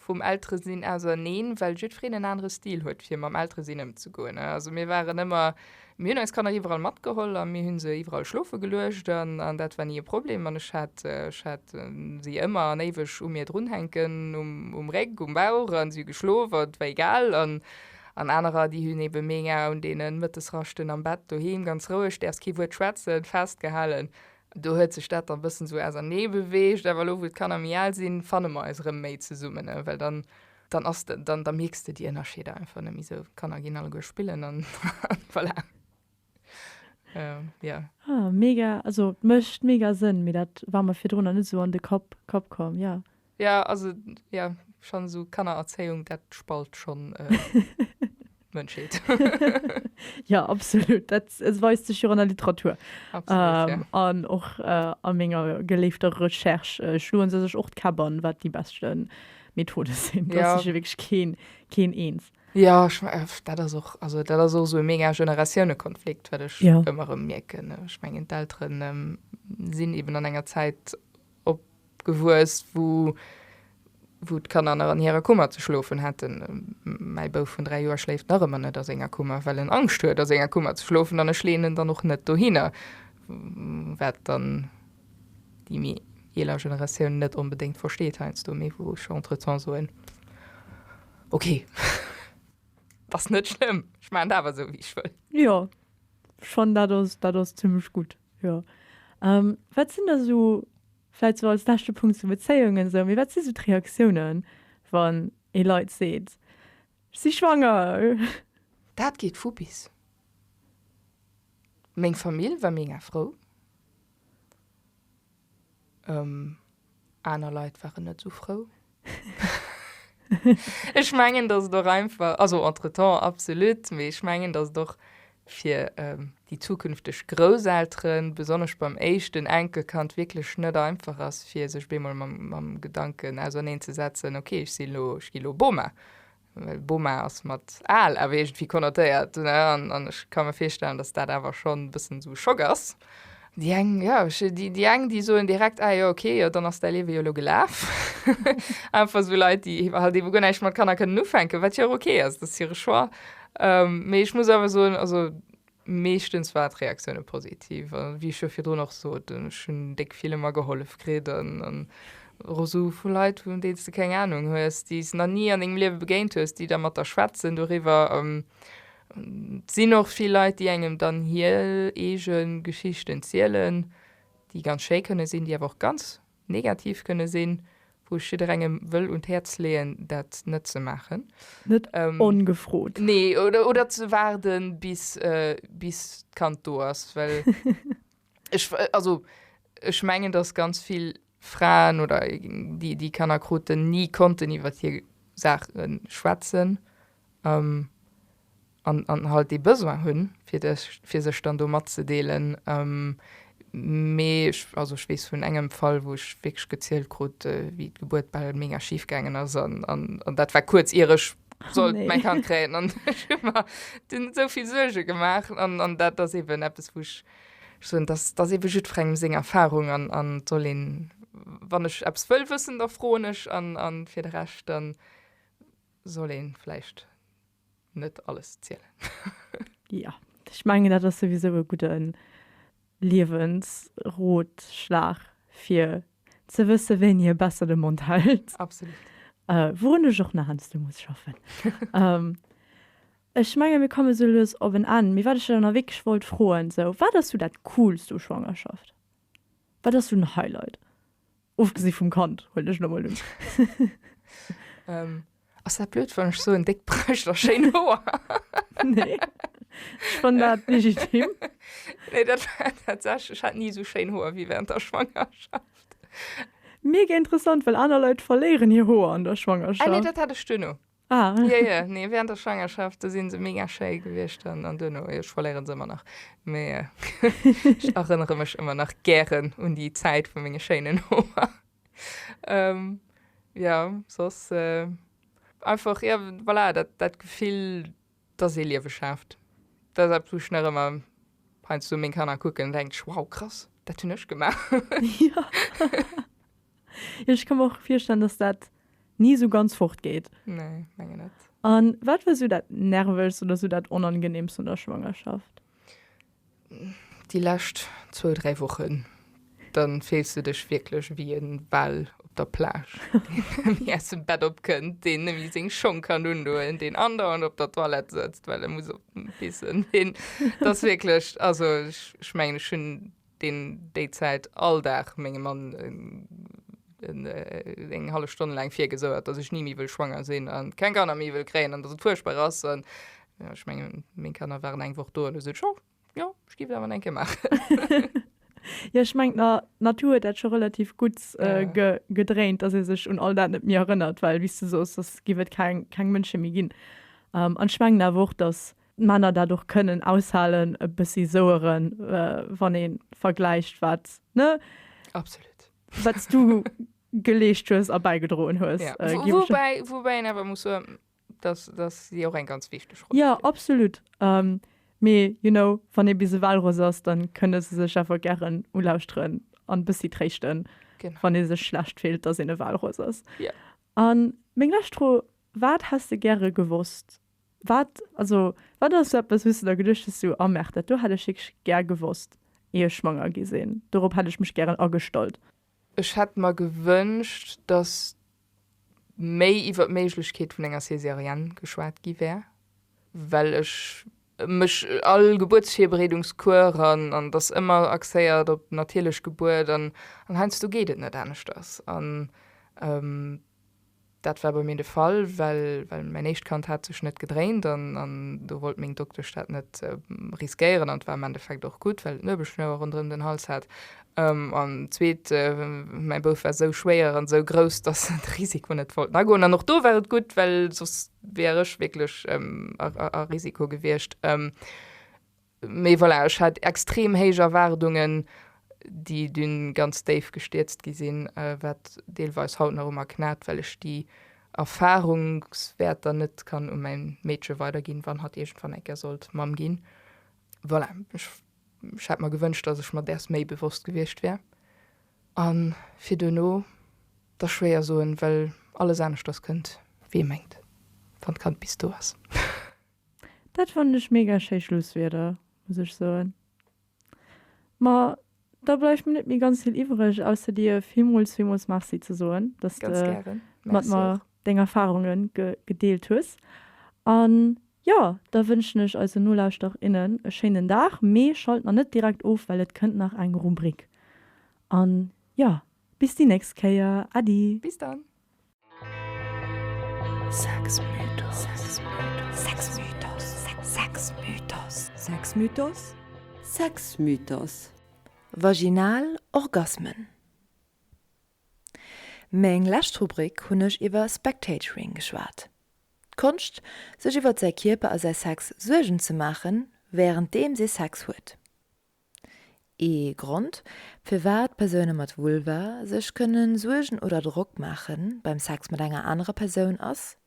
vum Elteresinn auserneen well jiddwereen en anere Stil huet fir mam Elteresinn ëmzegoen ne also mir waren ëmmer Mir hunn eis Kanner iwwerall matgeholl a mir hu se iwwerall schlofe geluecht an dat war ni e Problem. An ech hat si ëmmer an éiweg u mir drunhänken, um Réck, um Bauch a si hu geschlof a et war egal. An anerer, déi hunn ebe meng Aer un deene Mëttesraschten am Bett doheem ganz roueg, däerfs kee Wuert schwätzen, festgehalen. Do huet sech dat dann e bëssen esou ausernee beweegt. Awer elo, wou d'Kanner méi al sinn, fanne mer eis erëm méi zesummen, well dann dann ass de, dann, da mierks de déi Ënnerscheeder einfach net méi esou. D'Kanner ginn alleguer spillen an voilà. Jo. Ah, mega, also et mécht mega Sënn, mee dat war mer virdrun nach net esou an de Kapp, Kapp komm, jo. Jo, also, jo, schonn esou Kannererzéiung, dat spalt schonn. Mënschheet. Ja, absolut. Dat weist sech jo an der Literatur. Absolut, ja. An och a menger geléifter Recherche schloen se sech och d'Käpp an, wat déi beschte Methode sinn. Do ass sech jo wierklech keen, keen eens. Jo, ech mengen, dat ass och, also dat ass och esou e mega Generatiounekonflikt, wat ech ëmmer erëm mierken. Ech mengen, d'Eltere sinn eeben an enger Zäit Gewuess, wou d'Kanner nach an hirer Kummer ze schlofen hätten. Mäi Bouf vun 3 Joer schléift nach ëmmer net a senger Kummer, well en Angscht huet a senger Kummer ze schlofen an ech leeën en dann och net dohinner, wat dann déi méi eeler Generatioun net onbedéngt versteet heiansdo, mee wou ech entretemps soen, ok, ass net schlëmm, ech maachen et awer esou, wéi ech wëll. Jo, schonn dat ass, dat ass zimlech gutt, jo. Wat sinn da sou Vläit sou als leschte Punkt zu Bezéiungen esou, mee wat si sou d'Reaktiounen, wann ee Leit seet, ech si schwanger? Dat geet vu bis. Meng Famill war mega frou, aner Leit waren net esou frou. Ech mengen, datt et och einfach, also entretemps absolut, mee ech mengen, datt et och fir déi zukünfteg Grousselteren, besonnesch beim éischten Enkelkand, wierklech net einfach ass, fir sech bemol mam Gedanken auserneenzesetzen, ok, ech sinn elo, ech ginn elo Boma, well Boma ass mat al awer iergendwéi konnotéiert, ne, an, an ech ka mer virstellen, datt dat awer schonn e bëssen esou e Schock ass. Déi eng, jo, ech, déi, déi eng, déi soen direkt, ah jo, okay, jo, dann ass däi Liewe jo elo gelaf. Einfach esou Leit, déi halt eben guer näischt mat Kanner kënnen ufänken, wat jo och okay ass, dat ass hire Choix. Mee ech muss awer soen, also, Meeschtens war d'Reaktioune positiv a wéi ech jo virdrun och sot, ech hunn déck ville mer gehollef kritt a Reseaue vu Leit, vun deenen s de keng Anung hues, déi s nach ni an dengem Liewe begéint hues, déi da mat der schwätzen doriwwer. Et sinn och vill Leit, déi engem dann hir eege Geschichten zielen, déi ganz schéi kënne sinn, déi awer och ganz negativ kënne sinn, wou ech jidderengem wëll un d'Häerz leeën, dat net ze maachen. Net ongefrot. Nee, oder ze waarden, bis d'Kand do ass. Well ech, also ech mengen, dass ganz vill Fraen oder déi Kanner kruten, ni konnten iwwer hir Saache schwätzen. an halt dee Besoin hunn, fir sech dann do matzedeelen. Mee also ech weess vun engem Fall, wou ech wierklech gezielt krut, wéi d'Gebuert bal mega schif gaangen ass, an dat war kuerz ier ech sollt mäin Kand kréien. An ech hu mer dunn esou vill Suerge gemaach. An dat ass eben eppes, wou ech soen, dat ass ebe jiddwerengem seng Erfarung. An et soll een, wann ech eppes wëll wëssen, da froen ech. An fir de Rescht, da soll ee vläicht. net alles zielen. Jo, ech mengen dat ass souwisou e gudde Liewensrotschlag fir ze wësse wéini e besser de Mond hält. Absolut. Wourun ech och nach heiansdo muss schaffen. Ech menge mir komme sou lues op en Enn. Mee wat ech der dann wierklech wollt froen, sou wat ass sou dat coolst u Schwangerschaft? Wat ass sou den Highlight? Ofgesi vum Kand, huelen ech lo mol un. Ass dat blöd wann ech soen, déck Brëscht a schéin Hoer? Nee, ech fannen dat legitim. Nee, dat war tatsächlech, ech hat ni esou schéin Hoer wéi während der Schwangerschaft. Mega interessant, well aner Leit verléieren hir Hoer an der Schwangerschaft. Ah nee, dat hat ech duerno. Ah. Jo, jo, nee, während der Schwangerschaft, do sinn se mega schéi gewiescht an, an duerno, jo, ech verléieren se ëmmer nach, mee ech erënnere mech ëmmer nach gären un déi Zäit vu menge schéinen Hoer. Ähm, jo, soss, einfach, jo, voilà, dat, dat Gefill, Dass ee Liewe schaaft, dat ass eppes, wou ech nach ëmmer heiansdo meng Kanner kucken an denken, wow, krass, dat hunn ech gemaach. Jo, ech ka mer och virstellen, dass dat ni esou ganz fortgeet. Nee, mengen net. A wat war esou dat Nervegst oder esou dat Onangeneemst un der Schwangerschaft? Déi lescht zwou, dräi Wochen, da fills du dech wierklech ewéi e Wal op der Plage, deen nëmme aus dem Bett opkënnt, deen nëmme seng Schong kann undoen, deen andauernd op der Toilette sëtzt, well e muss op d'Pissen. Deen, dat ass wierklech, also ech mengen, ech hunn deen déi Zäit all Dag mengem Mann eng hallef Stonn laang virgesouert, dass ech ni méi wëll schwanger sinn a keng Kanner méi wëll kréien an dass et fuerchtbar ass. Ja, ech mengen, meng Kanner waren eng Woch do an hu sech och, jo, ech giff et awer nach eng Kéier maachen. Jo, ech mengen, d'Natur huet dat scho relativ gutt gedréint, dass ee sech un all dat net méi erënnert, well, wéi s de sos, dass giff et keng Mënsche méi ginn. An ech mengen awer och, dass d'Männer dat och kënnen aushalen, e bëssi soueren, wann ee vergläicht, wat, ne? Absolut. Wat s du geleescht hues a bäigedroen hues, giff ech. Woubäi, woubäi een awer muss soen, dass dass si och eng ganz wichteg Roll ja absolut um, mee you know wann ee bis ewell Ross ass dann kënne se sech awer gären ulauschteren an bëssi tréischten genau. wann ee sech schlecht fillt dass een ewell Ross ass ja. an meng lescht Fro wat häss de gäre gewosst wat also wat ass so eppes wouste der geduecht hues so ah merkt dat do hätt ech wierklech gär gewosst ier ech schwanger gi sinn dorop hätt ech mech gären agestallt Ech hätt mer gewënscht, datt méi iwwer d'Méiglechkeet vun enger Césarienne geschwat gi wär, well ech mech all Gebuertsvirbereedungscours an an datt ëmmer axéiert op d'natierlech Gebuert an heiansdo geet et net aneschters an Dat war bei mir de Fall, well mäin éischt Kand hat sech net gedréint an do wollt meng Doktesch dat net riskéieren an et war am Endeffekt och gutt, well et Nuebelschnouer ronderëm den Hals hat an zweet mäi Bouf war esou schwéier an esou grouss, dass en de Risiko net wollt agoen an och do war et gutt, well soss wär ech wierklech a Risiko gewiescht. Mee voilà, ech hat extrem héich Erwaardungen, déi dunn ganz déif gestierzt gi sinn, wat deelweis haut nach u mer knat, well ech déi Erfahrungswäerter net kann u mäin Meedche weiderginn, wann hatt iergendwann eng Kéier sollt Mamm ginn. Voilà, ech hätt mer gewënscht, dass ech mer däers méi bewosst gewiescht wär. A fir duerno, dat ass schwéier soen, well alles aneschters kënnt, wéi ee mengt, wann d'Kand bis do ass. Dat fannen ech mega schéi Schlusswierder, muss ech soen. Ma da bleift mir net méi ganz vill iwwreg, ausser dir villmools, villmools Merci ze soen, dass de mat mer deng Erfarunge gedeelt hues. An jo, da wënschen ech eise Nolauschterer, innen e schéinen Dag. Mee schalt nach net direkt of, well et kënnt nach eng Rubrik. An jo, bis déi nächst Kéier. Äddi! Bis dann! Sexmythos, Vaginal Orgasmen Meng lescht Rubrik hunn ech iwwer Spectatoring geschwat. D'Konscht, sech iwwert säi Kierper a säi Sex Suergen ze maachen, wärenddeems ee Sex huet. Ee Grond, firwat Persoune mat Vulva sech kënne Suergen oder Drock maache beim Sex mat enger anerer Persoun ass,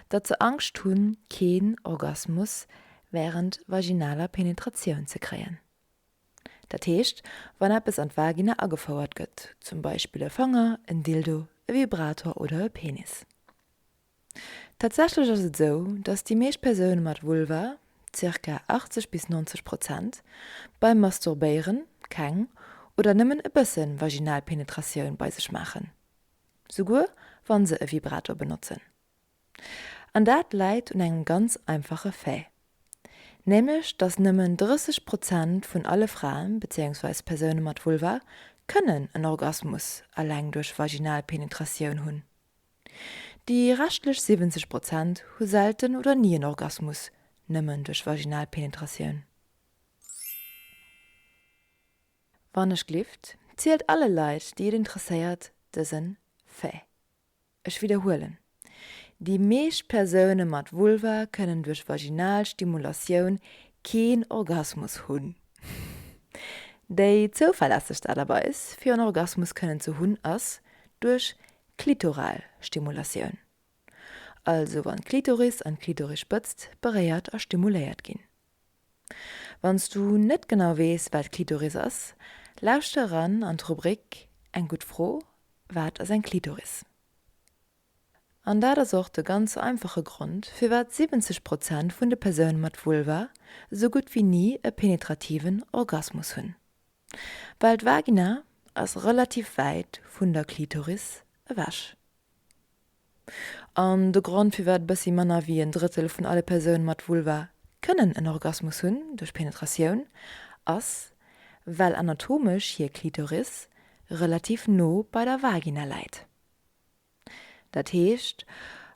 datt se Angscht hunn, keen Orgasmus wärend vaginaler Penetratioun ze kréien. Dat heescht, wann eppes an d'Vagina agefouert gëtt, zum Beispill e Fanger, en Dildo, e Vibrator oder e Penis. Tatsächlech ass et esou, datt déi meescht Persoune mat Vulva, zirka 80 bis 90 Prozent, beim Masturbéieren keng oder nëmmen e bësse vaginal Penetratioun bei sech maachen, souguer wa se e Vibrator benotzen. An dat läit un engem ganz einfache Fait, nämlech datt nëmmen 30 Prozent vun alle Fraen, bezéiungsweis Persoune mat Vulva, kënnen en Orgasmus eleng duerch vaginal Penetratioun hunn. Déi reschtlech 70 Prozent hu selten oder ni en Orgasmus, nëmmen duerch vaginal Penetratioun. Wannechglift zielt alle Leit, déi et interesséiert, dësen Fait. Ech widderhuelen, Déi meescht Persoune mat Vulva kënnen duerch vaginal Stimulatioun keen Orgasmus hunn. Déi zouverlässegst Aart a Weis, fir en Orgasmus kënnen ze hunn, ass duerch Klitoral Stimulatioun, also wann d'Klitoris an d'Klitorispëtzt beréiert a stimuléiert ginn. Wann s du net genau weess wat Klitoris ass, lauschter eran an d'Rubrik Eng gutt Fro, Wat ass eng Klitoris? An dat ass och de ganz einfache Grond firwat 70 Prozent vun de Persoune mat Vulva esou gutt wéi ni e penetrativen Orgasmus hunn. Well d'Vagina ass relativ wäit vun der Klitoris ewech. An de Grond firwat bëssi manner wéi en Drëttel vun alle Persoune mat Vulva kënnen en Orgasmus hunn duerch Penetratioun ass, well anatomesch hir Klitoris relativ no bei der Vagina läit. Dat heescht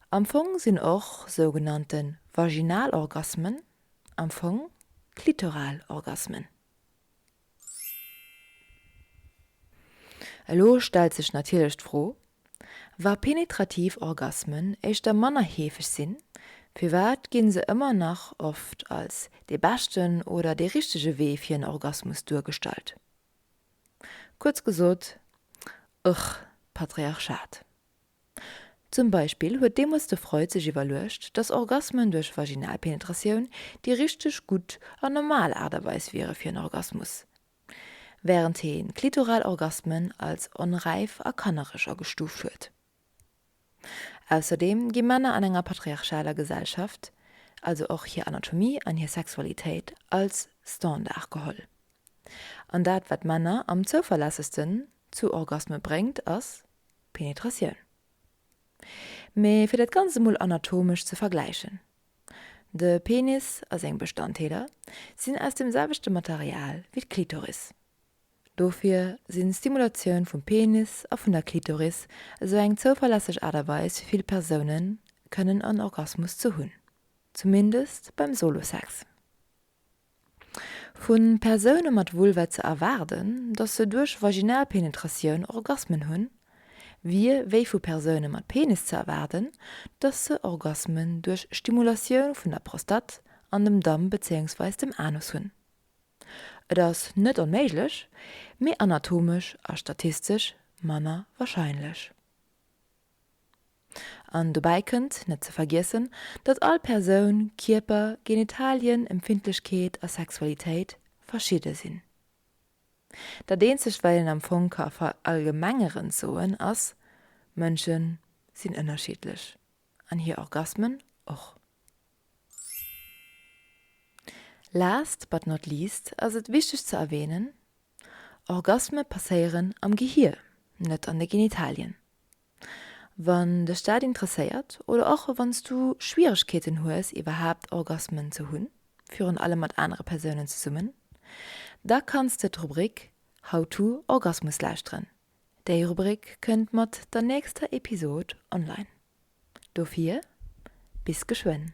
am Fong sinn och sougenannte Vaginalorgasmen am Fong klitoral Orgasmen. Elo stellt sech natierlech d'Fro, Wa penetrativ Orgasmen éischter manner heefeg sinn, firwat ginn se ëmmer nach oft als dee beschten oder dee richtege Wee fir en Orgasmus duergestallt? Kuerz gesot, Ugh, Patriarchat. Zum Beispill huet deemools de Freud sech iwwerluecht, datt Orgasmen duerch Vaginalpenetratioun déi richteg gutt an normal Aart a Weis wiere fir en Orgasmus, wärend hee klitoral Orgasmen als onräif a kannereg agestuuft huet. Ausserdeem gi Männer an enger patriarchaler Gesellschaft also och hir Anatomie an hir Sexualitéit als Standard geholl, an dat wat Männer am zouverlässegsten zu Orgasme bréngt ass, Penetratioun. Mee fir dat Ganzt emol anatomesch ze vergläichen, De Penis a seng Bestanddeeler sinn aus dem selwechte Material wéi d'Klitoris. Dofir sinn d'Stimulatioun vum Penis a vun der Klitoris esou eng zouverlässeg Aart a Weis fir vill Persounen kënnen en Orgasmus ze hunn, zumindest beim Solo-Sex. Vu Persoune mat Vulva ze erwaarden, datt se duerch Vaginalpenetratioun Orgasmen hunn, wier wéi vu Persoune mat Penis ze erwaarden, datt se Orgasmen duerch Stimulatioun vun der Prostat an dem Damm bezéiungsweis dem Anus hunn. Et ass net onméiglech, mee anatomesch a statistesch manner warscheinlech. An dobäi kënnt, net ze vergiessen, datt all Persoun, Kierper, Genitalien, Empfindlechkeet a Sexualitéit verschidde sinn. Dat eenzegt wat een am Fong ka verallgemengerend soen ass, Mënsche sinn ënnerschiddlech an hir Orgasmen och. Last but not least ass et wichteg ze erwähnen, Orgasme passéieren am Gehier, net an de Genitalien. Wann dech dat interesséiert, oder och wann s du Schwieregkeeten hues iwwerhaapt Orgasmen ze hunn, virun allem mat anere Persounen zesummen, da kanns de d'Rubrik How to Orgasmus lauschteren. Déi Rubrik kënnt mat der nächster Episod online. Dofir bis geschwënn.